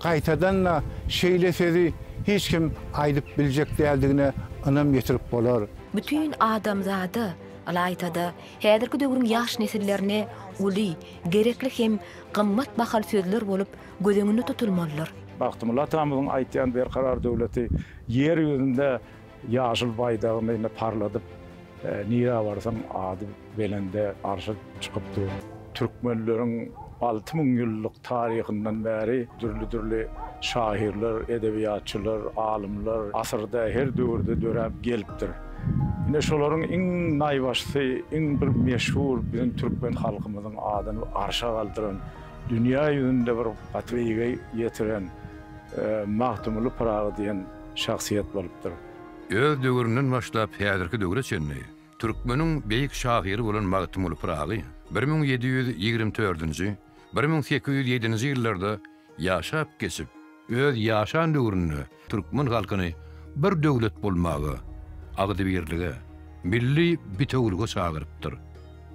Gaýtadan-da, şeýle sözi hiç kim aýdyp biljek däldigine ynam ýetirip bolar. Bütin adamzada, ylaýta-da, häzirki döwrüň ýaş nesillerine uly, gerekli hem gymmat bahal sözler bolup göz öňünde tutulmalydyr. Bagtymylla atamyzyň aýtýan Berkarar döwleti Ýer ýüzünde ýaşyl baýdagyny indi parladyp, nirä barsaň ady Belende arşa çykyp dur. Türkmenleriň alty müň ýyllyk taryhyndan bäri dürli-dürli şahyrlar, edebiýatçylar, alymlar asyrda, her döwürde döräp gelipdir. Ine, şolaryň iň naýbaşysy, iň bir meşhur biziň türkmen halkymyzyň adyny arşa galdyran, dünýä ýüzünde bir gaty beýige ýetiren Magtymguly Pyragy diýen şahsyýet bolupdyr. Öz döwründen başlap häzirki döwre çenli Türkmeniň beýik şahyry bolan Magtymguly Pyragy bir müň ýedi ýüz ýigrimi dördünji, bir müň sekiz ýüz ýedinji ýyllarda ýaşap geçip, öz ýaşan döwründe türkmen halkyny bir döwlet bolmaga, agzybirlige, milli bitewülige çagyrypdyr.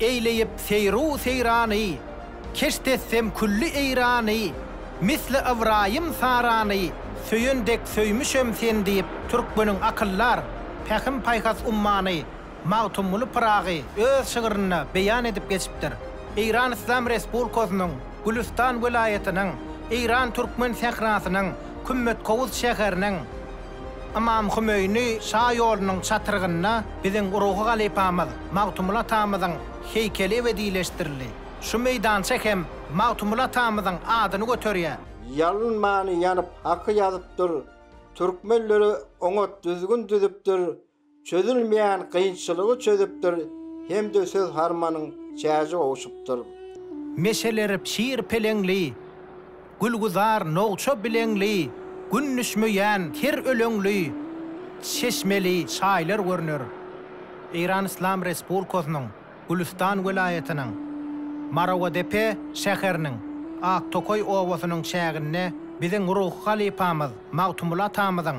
Eýleýip seýru seýrany, keşt etsem külli Eýrany, Misli Ybraýym Sarany, söýen dek söýmüşem sen diýip, türkmeniň akyldar, pähim-paýhas ummany. Magtymguly Pyragy öz şygrynda beýan edip geçipdir. Eýran Yslam Resbulkasynyň Gülüstan welaýatynyň Eýran Türkmen sährasynyň Kümmetkowus şäheriniň Ymam Hümeýni şa ýolunyň çatrygynda biziň ruhy halypamyz Magtymguly atamyzyň heýkeli ebedileşdirildi. Şu meýdança hem Magtymguly atamyzyň adyny göterýär. Ýalynmany ýanyp haky ýazypdyr, Türkmenlere oňat düzgün düzüpdir, çözülmeýän kynçylygy çözüpdir hem-de söz harmanyň çäji gowşupdyr. Meşeleri çir peleňli, gülgüzar nogça bileňli, Gün düşmeýän ter öleňli, çeşmeli çaýlar görner. Eýran Yslam Respublikasynyň Gülüstan welaýatynyň Marowadepe şäheriniň Aktokaý obasynyň çäginde biziň ruhy halypamyz Magtymguly atamyzyň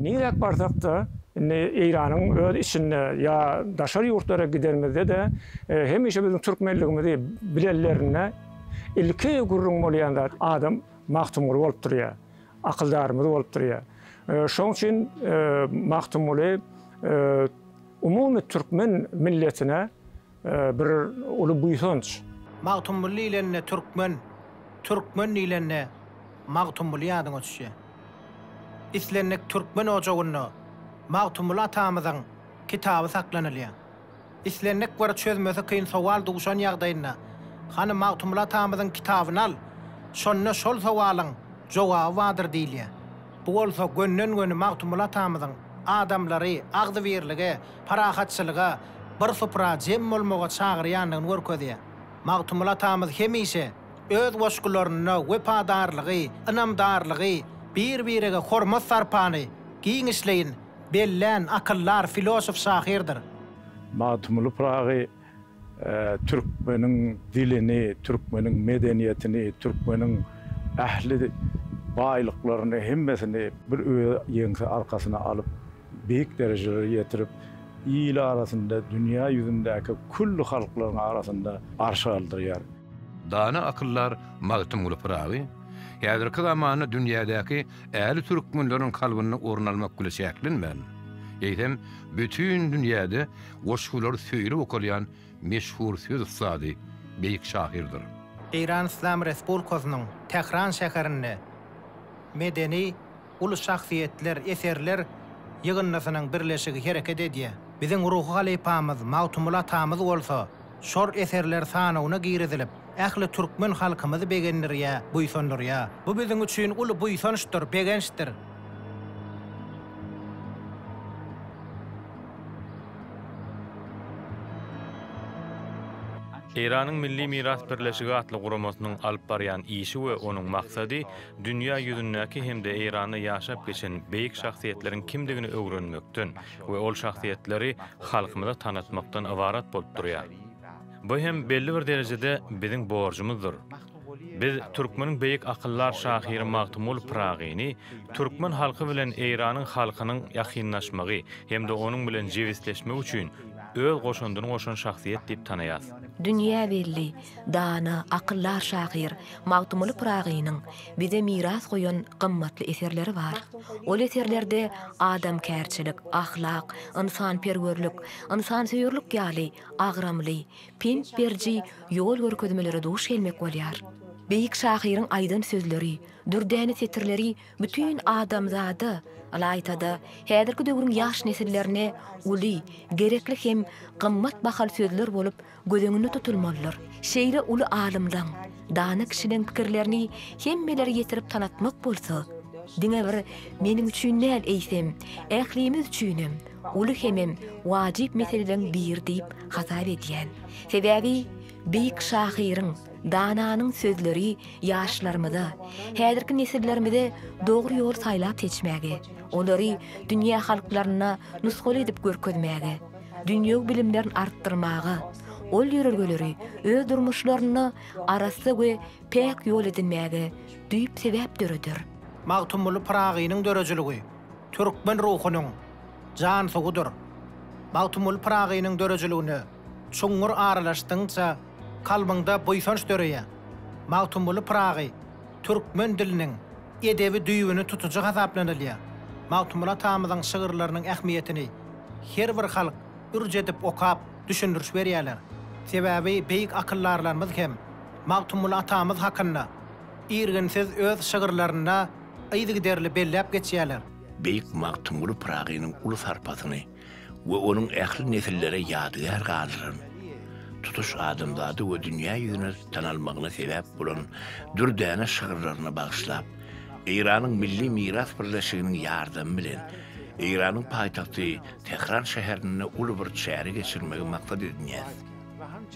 Nirä barsak-da, indi Eýranyň öz içinde ýa daşary ýurtlara gidenimizde-de hemişe biziň türkmenligimizi bilenlerinde ilki gürrüň bolýan zat adam Magtymguly bolup durýar, akyldarymyz bolup durýar. Şonuň üçin Magtymguly umumy türkmen milletine Bir uly buýsanç. Magtymguly diýlende türkmen, türkmen diýlende Magtymguly ýadyňa düşýär. Islendik türkmen ojagynda Magtymguly atamyzyň kitaby saklanylýar. Islendik bir çözmesi kyn sowal duşan ýagdaýynda, Hany Magtymguly atamyzyň kitabyny al, şonda şol sowalyň jogaby bardyr diýilýär. Bu bolsa gönden-göni Magtymguly atamyzyň adamlary agzybirlige, parahatçylyga, bir supra jem bolmaga çagyrýandygyny görkezýär. Magtymguly atamyz hemişe öz goşgularynda wepadarlygy, ynamdarlygy, bir-birege hormat-sarpany giňişleýin bellän akyldar filosof-şahyrdyr. Magtymguly Pyragy Türkmeniň dilini, türkmeniň medeniýetini, türkmeniň ähli baýlyklaryny, hemmesini bir öz ýeňse arkasyna alyp, beýik derejelere ýetirip, il arasynda, dünýä ýüzündäki külli halklaryň arasynda arşa galdyrýar. Dana akyldar Magtymguly Pyragy häzirki zamanda dünýädäki ähli türkmenleriň kalbynda orun almak bile çäklenmän, eýsem, bütin dünýäde goşgulary söýlüp okalýan meşhur söz ussady, beýik şahyrdyr. Eýran Yslam Respublikasynyň Tähran şäherinde medeni uly şahsyýetler, eserler ýygyndysynyň birleşigi hereket edýär. Biziň ruhy halypamyz Magtymguly atamyz bolsa, Şor eserler sanawyna girizilip, ähli türkmen halkymyzy begendirýä, buýsandyrýa. Bu biziň üçin uly buýsançdyr, begençdir. Eýranyň Milli miras birleşigi atly guramasynyň alyp barýan işi we onuň maksady dünýä ýüzündäki hem-de Eýranda ýaşap geçen beýik şahsyýetleriň kimdigini öwrenmekden, we ol şahsyýetleri halkymyza tanatmakdan ybarat bolup durýar. Bu hem belli bir derejede biziň borjumyzdyr. Biz türkmeniň beýik akyldar şahyry Magtymguly Pyragyny türkmen halky bilen Eýranyň halkynyň ýakynlaşmagy hem-de onuň bilen jebisleşmegi üçin öz goşandyny goşan şahsyýet diýip tanaýarys. Dünýä belli, dana, akyldar şahyr Magtymguly Pyragynyň bize miras goýan gymmatly eserleri bar. Ol eserlerde adamkärçilik, ahlak, ynsanperwerlik, ynsansöýerlik ýaly agramly, pent beriji ýol görkezmelere duş gelmek bolýar. Beýik şahyryň aýdan sözleri, dürdäne setirleri bütin adamzada, ylaýta-da, häzirki döwrüň ýaş nesillerine uly, gerekli hem gymmat bahaly sözler bolup, göz öňünde tutulmalydyr. Şeýle uly alymlaň, dana kişileň pikirlerini hemmelere ýetirip tanatmak bolsa, diňe bir meniň üçin däl, eýsem, ählimiz üçinem uly hemem wajyp meseleleň biri diýip hasap edýän. Sebäbi beýik şahyryň, dananyň sözleri ýaşlarymyza, häzirki nesillerimize dogry ýol saýlap seçmäge, olary dünýä halklaryna nusgaly edip görkezmäge, dünýewi bilimlerini artdyrmaga, ol ýörelgeleri öz durmuşlarynda arassa we päk ýol edinmäge düýp sebäp döreder. Magtymguly Pyragynyň döredijiligi türkmen ruhunyň jan suwudyr. Magtymguly Pyragynyň döredijiligine çuňňur aralaşdygyňça kalbyňda buýsanç döreýär. Magtymguly Pyragy. türkmen diliniň edebi düýbüni tutujy hasaplanylýar. Magtymguly atamyzyň şygyrlarynyň ähmiýetini her bir halk ürç edip okap, düşündiriş berýärler. Sebäbi beýik akyldarlarymyz hem Magtymguly atamyz hakynda irginsiz öz şygyrlarynda yzygiderli belläp geçýärler. Beýik Magtymguly Pyragynyň uly sarpasyny, we onuň ähli nesillere ýadygär galdyran, tutuş adamzada we dünýä ýüzüne tanalmagyna sebäp bolan dürdäne şygyrlaryny bagyşlap, Eýranyň Milli miras birleşiginiň ýardamy bilen Eýranyň paýtagty Tähran şäherinde uly bir çäre geçirmegi maksat edinýäris.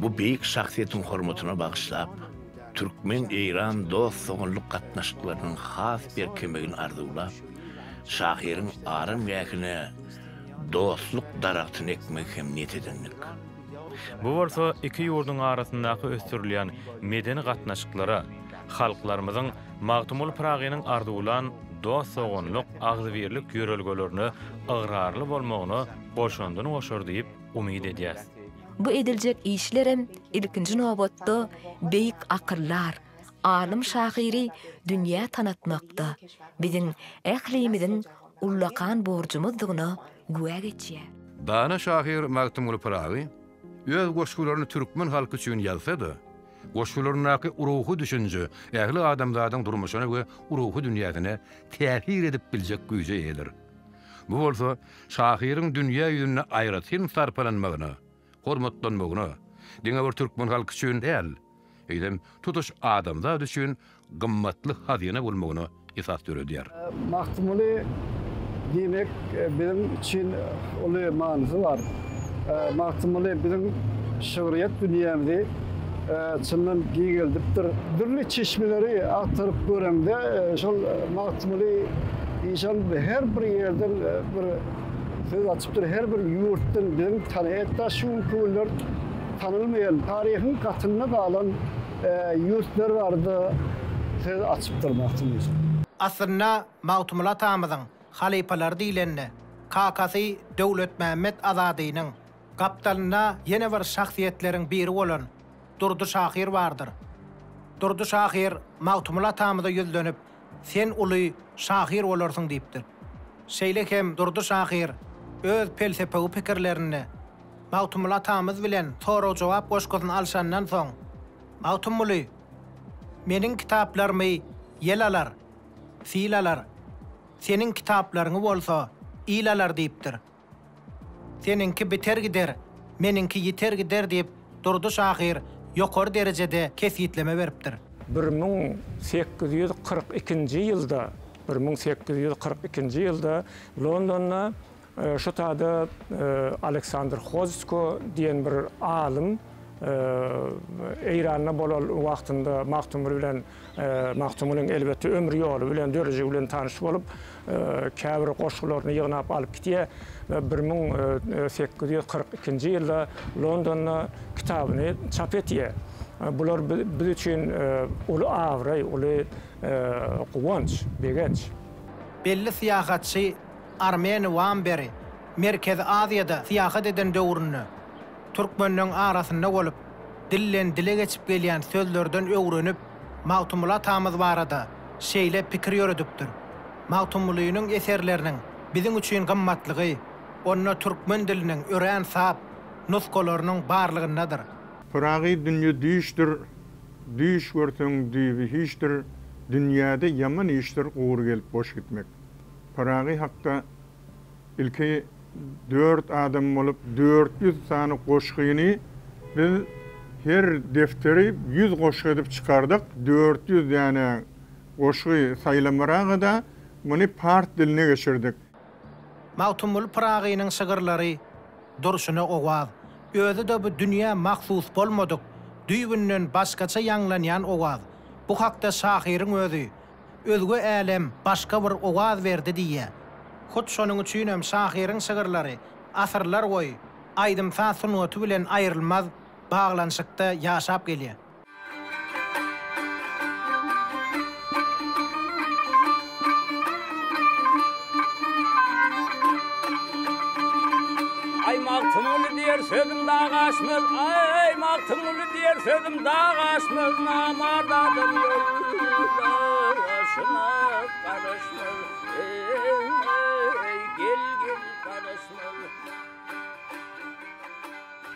Bu beýik şahsyýetiň hormatyna bagyşlap, türkmen-eýran dost-doganlyk gatnaşyklarynyň has berkemegini arzuwlap, Şahyryň aram gähine dostluk daragtyny ekmegi hem niýet edendik. Bu bolsa iki ýurduň arasyndaky ösdürilýän medeni gatnaşyklara, halklarymyzyň Magtymguly Pyragynyň arzuwlan dost-doganlyk, agzybirlik ýörelgelerine ygrarly bolmagyna goşandyny goşar diýip umyt edýäs. Bu ediljek işlerem ilkinji nobatda beýik akyllar, alym şahyry dünýä tanatmakda biziň ählimiziň ullakan borjumyzdygyna güwä geçýär. Dana şahyr Magtymguly Pyragy öz goşgularyny türkmen halky üçin ýazsa-da, goşgularyndaky ruhy düşünje ähli adamzadyň durmuşyna we ruhy dünýäsine täsir edip biljek güýje eýedir. Bu bolsa şahyryň dünýä ýüzünde aýratyn sarpalanmagyna, hormatlanmagyna, diňe bir türkmen halky üçin däl, eýsem, tutuş adamzat üçin gymmatly hazyna bolmagyna esas döredýär. Magtymguly diýmek biziň üçin uly manysy bar. Magtymguly biziň şygryýet dünýämizi çyndan giňeldipdir. Dürli çeşmeleri agtaryp göreňde, şol Magtymguly işan her bir ýerden bir. Söz açypdyr her bir ýurtdan gelip tany hetta şu günki günler tanalmaýan taryhyň gatynda galan ýurtlar barada söz açypdyr Magtym Yusuf. Aslynda Magtymguly atamyzyň halypalary diýlende kakasy Döwletmämmet Azadynyň gapdalynda ýene bir şahsyýetleriň biri bolan Durdy şahyr bardyr. Durdy şahyr Magtymguly atamyza ýüzlenip Sen uly şahyr bolarsyň diýipdir. Şeýle hem Durdy şahyr öz pelsepewi pikirlerinde Magtymguly atamyz bilen sorag-jogap goşgusyny alşandan soň, Magtymguly, Meniň kitaplarymy ýel alar, sil alar, seniň kitaplaryňy bolsa il alar diýipdir. Seniňki biter gider, meniňki ýiter gider diýip, Durdy şahyr ýokary derejede kesgitleme beripdir. Bir müň sekiz ýüz kyrk ikinji ýylda, bir müň sekiz ýüz kyrk ikinji ýylda Londonda şu tada Aleksandr Hozsko diýen bir alym Eýranda bolan wagtynda Magtymguly bilen Magtymgulyň elbetde ömür ýoly bilen, dörejigi bilen tanyş bolup, käbir goşgularyny ýygnap alyp gidýär we bir müň sekiz ýüz kyrk ikinji ýylda Londonda kitabyny çap etýär. Bular biz üçin uly abraý, uly guwanç, begenç. Belli syýahatçy Armeni Wamberi Merkezi Aziýada syýahat eden döwründe Türkmenleň arasynda bolup, dilden dile geçip gelýän sözlerden öwrenip, Magtymguly atamyz barada şeýle pikir ýöredipdir, Magtymgulynyň eserleriniň biziň üçin gymmatlygy onda türkmen diliniň örän sap nusgalarynyň barlygyndadyr. Pyragy dünýe düýşdür, Düýş görseň düýbi hiçdir, Dünýäde ýaman işdir Gury gelip boş gitmek. Pyragy hakda Ilki dört adam bolup dört ýüz sany goşgyny biz her defteri ýüz goşgy edip çykardyk. Dört ýüz däne goşgy saýlamyraga-da muny pars diline geçirdik. Magtymguly Pyragynyň şygyrlary durşuna owaz. Özi-de bu dünýä mahsus bolmadyk, düýbünden başgaça ýaňlanýan owaz. Bu hakda şahyryň özi Özge älem başga bir owaz berdi diýýär. Hut şonuň üçinem şahyryň şygyrlary asyrlar boýy aýdym-saz sungaty bilen aýrylmaz baglanyşykda ýaşap gelýär. Aý Magtymguly diýer sözüm dag aşmaz, aý Magtymguly diýer sözüm dag aşmaz, namart adam ýollar aşyna garaşmaz, eý gel gel garaşmaz.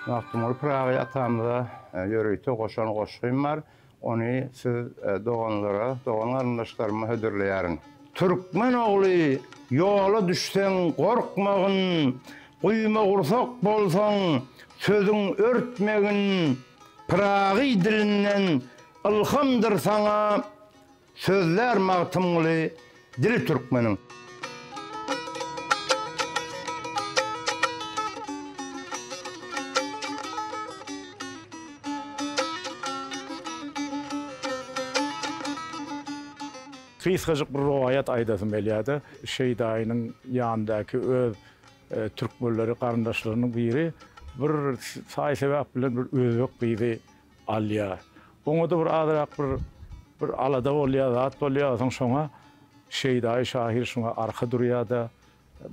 Magtymguly Pyragy atamyza ýörite goşan goşgym bar. Ony siz doganlara, dogan-garyndaşlaryma hödürleýärin. Türkmen ogly, ýola düşseň gorkmagyn, guýmagursak bolsaň, sözüň örtmegin, Pyragy dilinden ylhamdyr saňa, Sözlär Magtymguly dili türkmeniň. Gysgajyk bir rowaýat aýdasym gelýär-de, Şeýdaýynyň ýanyndaky öz türkmenleri, garyndaşlarynyň biri bir saý-sebäp bilen bir özbek gyzy Alýar. Oňa-da bir azrak bir bir alada bolýar, zat bolýar. Soň şoňa Şeýdaýy şahyr şuňa arka durýar-da,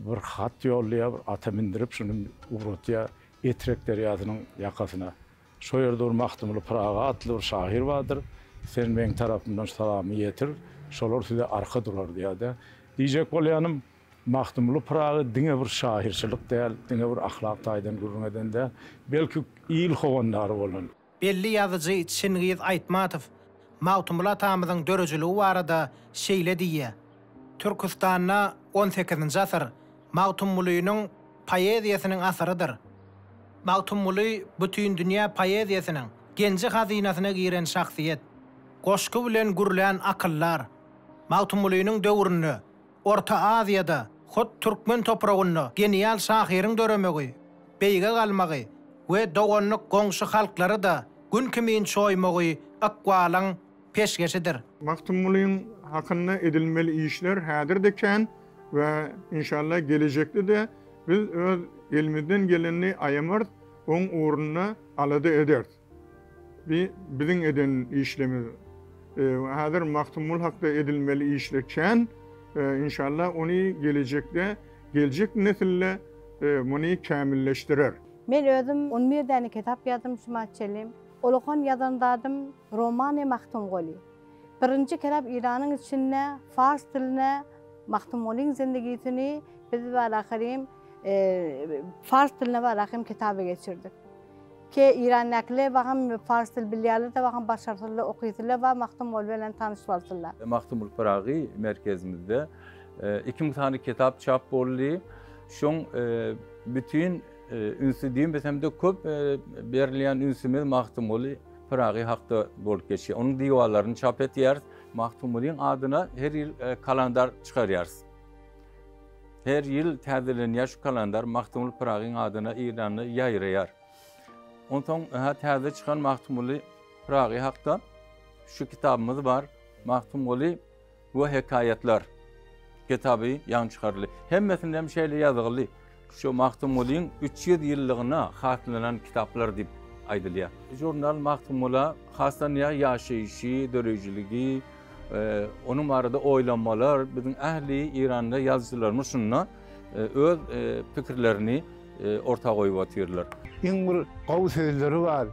bir hat ýollaýar, bir ata mindirip, şuny ugratýar Etrek derýasynyň ýakasyna. Şo ýerde bir Magtymguly Pyragy atly bir şahyr bardyr. Sen meň tarapymdan şu salamy ýetir, şolar size arka durar diýär-de. Diýjek bolýanym. Magtymguly Pyragy diňe bir şahyrçylyk däl, diňe bir ahlak taýdan gürrüň eden däl, belki il howandary bolan. Belli ýazyjy Çingiz Aýtmatow Magtymguly atamyzyň döreijiligi barada şeýle diýýär, Türküstanda on sekizinji asyr Magtymgulynyň poeziýasynyň asyrydyr. Magtymguly bütindünýä poeziýasynyň genji-hazynasyna giren şahsyýet. Goşgy bilen gürlän akyldar. Magtymgulynyň döwründe Orta Aziýada, hut türkmen topragynda genial şahyryň döremegi, beýge galmagy we doganlyk goňşy halklary-da gün kimin çoýmagy ykbalyň peşgeşidir. Magtymgulyň hakynda edilmeli işler häzir-de kän we inşallah gelejekde-de biz öz elimizden gelenini aýamarys, oň ugrunda alada ederis. Bi biziň eden işlemiz. Häzir Magtymgul hakda edilmeli işler kän. Inşallah ony gelejekde geljek nesille muny kämilleşdirer. Men özüm on bir däne kitap ýazdym şuma çelim. Ullakan ýazan zadym Romany Magtymguly. Birinji kitap Eýranyň içinde fars diline Magtymgulyň zindigisini biz walakerem fars diline walakerem kitaby geçirdik. Ke Irandäkiler bagym pars dil bilýärler-de bagym başarsyzlar okysylar bar Magtymguly belen tanyş bolsunlar. Magtymguly Pyragy merkezimizde iki müň sany kitap çap boldy. Şoň bütin ünsi diýmesemde köp berilýän ünsümiz Magtymguly Pyragy hakda bolup geçýär. Onuň diwalaryny çap etýäris. Magtymgulyň adyna her ýyl kalandar çykarýarys. Her ýyl täzelenýär şu kalendar, Magtymguly Pyragyň adyna Eýranda ýaýraýar. Onsoň hä täze çykan Magtymguly Pyragy hakda şu kitabymyz bar, Magtymguly we hekaýatlar kitaby ýaňy çykaryldy. Hemmesinde hem şeýle ýazgyly, şu Magtymgulyň 300 ýyllygyna haslanan kitaplar diýip aýdylýar. Žurnal Magtymgula haslanýar, ýaşaýşy, döreýjiligi, Onuň barada oýlanmalar biziň ähli Eýranda ýazyjylarymyz şunda öz pikirlerini orta goýup otyrlar. Iň bir gowy sözleri bar.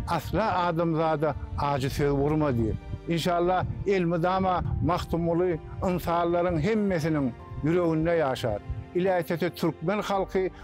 Asla adamzada ajy söz urma diýip. Inşallah elmydama Magtymguly ynsanlaryň hemmesiniň ýüreginde ýaşar. Iläýsede türkmen halky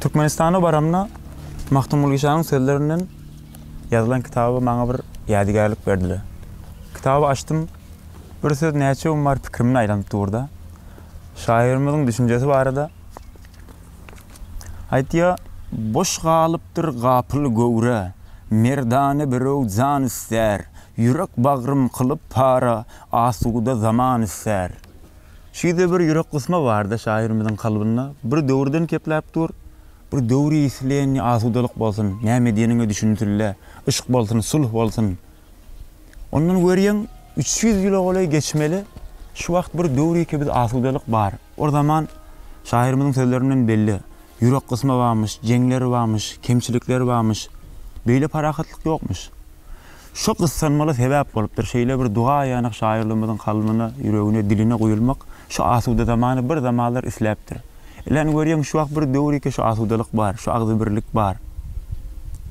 Türkmenistana baramda Magtymguly şanyň sözlerinden ýazylan kitaby maňa bir ýadygärlik berdiler. Kitaby açdym, bir söz näçe gün bari pikirimde aýlanyp durda. Şahyrymyzyň düşünjesi barada aýtýar. Boş galypdyr gapyl göwre, merdana birew jan ister, ýürek bagrym kylyp para, asuda zaman ister. Şüýde bir ýürek gysma barda şahyrymyzyň kalbynda bir döwürden kepläp dur, bir döwri isleýänni asudalyk bolsun, näme diýeniňe düşünsünle, yşk bolsun, sulh bolsun. Ondan görýäň üç ýüz ýyla golaý geçmeli, şu wagt bir döwri kebit asudalyk bar. Ol zaman şahyrymyzyň sözlerinden belli, ýürek gysma bamyş, jeňler bamyş, kemçilikler bamyş, beýle parahatlyk ýokmyş. Şu gyssanmala sebäp bolupdyr. Şeýle bir duga aýanok şaýyrlarymyzyň kalbyna, ýüregine, diline guýulmak şu asuda zamany bir zamanlar isläpdir. Ilen görýäň şu wagt bir döwür ýeke şu asudalyk bar, şu agzybirlik bar.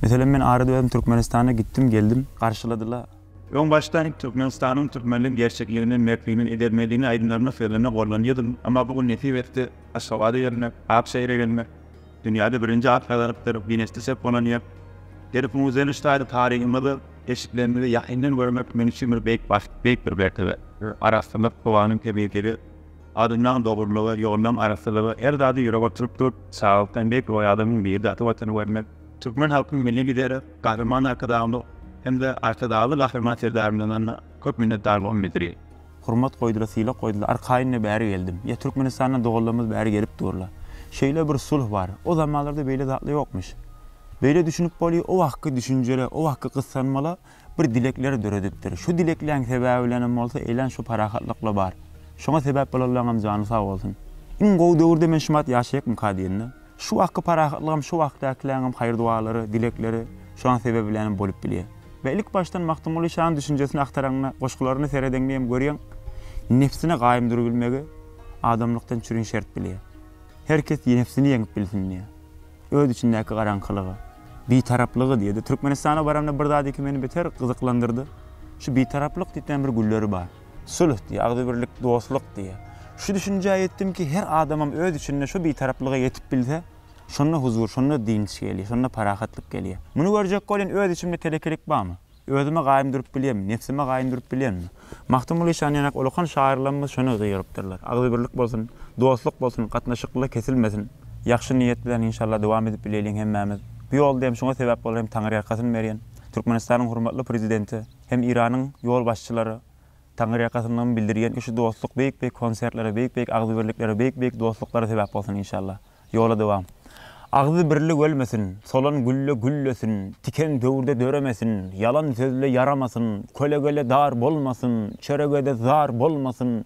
Meselem men arada özüm Türkmenistana gitdim, geldim. Garşyladylar. Öň başda Türkmenistanyň türkmenlik gerçekligini, mertligini, edermenligini aýdymlarymda, sözlerimde gollanýardym. Emma bu gün nesip etdi, Aşgabada gelmek, Akşehire gelmek. Dünýäde birinji at gazalypdyr, Ginesde ses bolan ýer. Ýeri Pul Müzzenç taýly taryhymyzy, keşplerimizi ýakyndan görmek men üçin bir beýik bagt, beýik bir mertebe. Arassalyk, howanyň temizligi, adamlaň dogrulygy, ýollaň arassalygy her zady ýürege oturyp dur. Saglykdan beýik roý adamyň biri-de ata Watany görmek. Türkmen halkynyň Milli Lideri Gahryman Arkadagymyz hem-de Arkadagly Gahryman Serdarymyzdan köp minnetdarlygymy bildirýän. Hurmat goýdyla sylak goýdyla arkaýynda bäri geldim. Ýa Türkmenistandan doganlarymyz bäri gelip durla. Şeýle bir sulh bar. O zamanlarda beýle zatla ýokmyş. Beýle düşünip bolýa o wagtky düşünjele o wagtky gyssanmala bir dilekler döredipdir. Şu dilekleň sebäbi bilenem bolsa eýlän şu parahatlykla bar. Şoňa sebäp bolanlaňam jany sag bolsun. Iň gowy döwürde men şumat ýaşaýakmyka diýende. Şu wagtky parahatlygam şu wagtdakiläňem haýyr-dualary, dilekleri şoň sebäbi bilenem bolup bilýär. We ilk başdan Magtymguly şanyň düşünjesini agtaraňda, goşgularyny seredeňde hem görýäň, nebsine gaýym durubilmegi adamlykdan çürin şert bilýär. Her kes nebsini ýeňip bilsin diýýär. Öz içindäki garaňkylygy, bitaraplygy diýýär-de. Türkmenistana baramda bir zat iki meni beter gyzyklandyrdy. Şu bitaraplyk diýip näme bir gülleri bar. Sülh diýýär, agzybirlik, dostluk diýýär. Şu düşünjä ýetdim ki, her adamam öz içinde şu bitaraplyga ýetip bilse, şonda huzur, şonda dynç gelýär, şonda parahatlyk gelýär. Muny görjek welin öz içimde telekelik barmy? Özüme gaýym durup bilýärmi? Nebsime gaýym durup bilýärmi? Magtymguly şan ýanak ulukan şahyrlarymyz şony gygyrypdyrlar. Agzybirlik bolsun, dostluk bolsun, gatnaşyklylar kesilmesin. Ýagşy niýet bilen inşallah dowam edip bileýliň hemmämiz. Bu ýolda hem şuňa sebäp bolan hem Taňryýalkasyn berýän Türkmenistanyň hormatly Prezidenti, Hem Iranyň ýolbaşçylary Taňyrýakasyndan bildirýän ki şu dostluk beýik beýik konsertlere beýik beýik agzybirliklere beýik beýik dostluklara sebäp bolsun inşallah. Ýola dowam. Agzy birlik ölmesin, solan gülle güllesin, tiken döwürde döremesin, ýalan sözle ýaramasyn, kölegele dar bolmasyn, çöregede zar bolmasyn,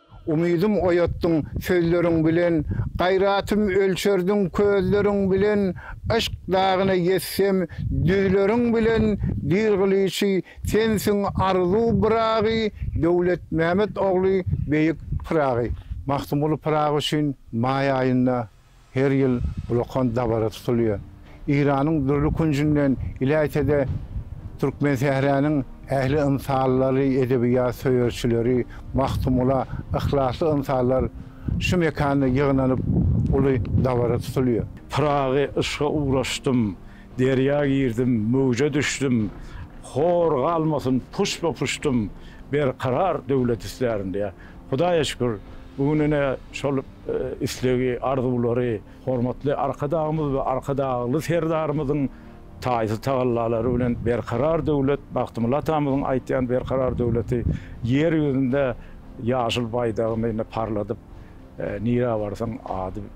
Umydym oýatdyň sözleriň bilen, Gaýratym ölçerdiň közleriň bilen, Yşk dagyna ýetsem düzleriň bilen, Dil gylyçy sensiň arzuw Byragy, Döwletmämet ogly beýik Pyragy. Magtymguly Pyragy üçin maý aýynda Her ýyl ullakan dabara tutulýar. Eýranyň dürli künjünden, iläýse-de, Türkmensähräniň ähli ynsanlary, edebiýat söýerçileri, Magtymgula yhlasly ynsanlar şu mekanda ýygnanyp, uly dabara tutulýar. Pyragy yşga ugraşdym, derýa girdim, möwje düşdüm, Hor galmasyn puşba-puşdym, berkarar döwlet istärin diýýär. Hudaýa şükür, bu gün ine şol islegi, arzuwlary hormatly Arkadagymyz we Arkadagly Serdarymyzyň taýsyz tagallalary bilen Berkarar döwlet, Bagtymylla atamyzyň aýtýan Berkarar döwleti Ýer ýüzünde ýaşyl baýdagyny ine parladyp, nirä barsaň ady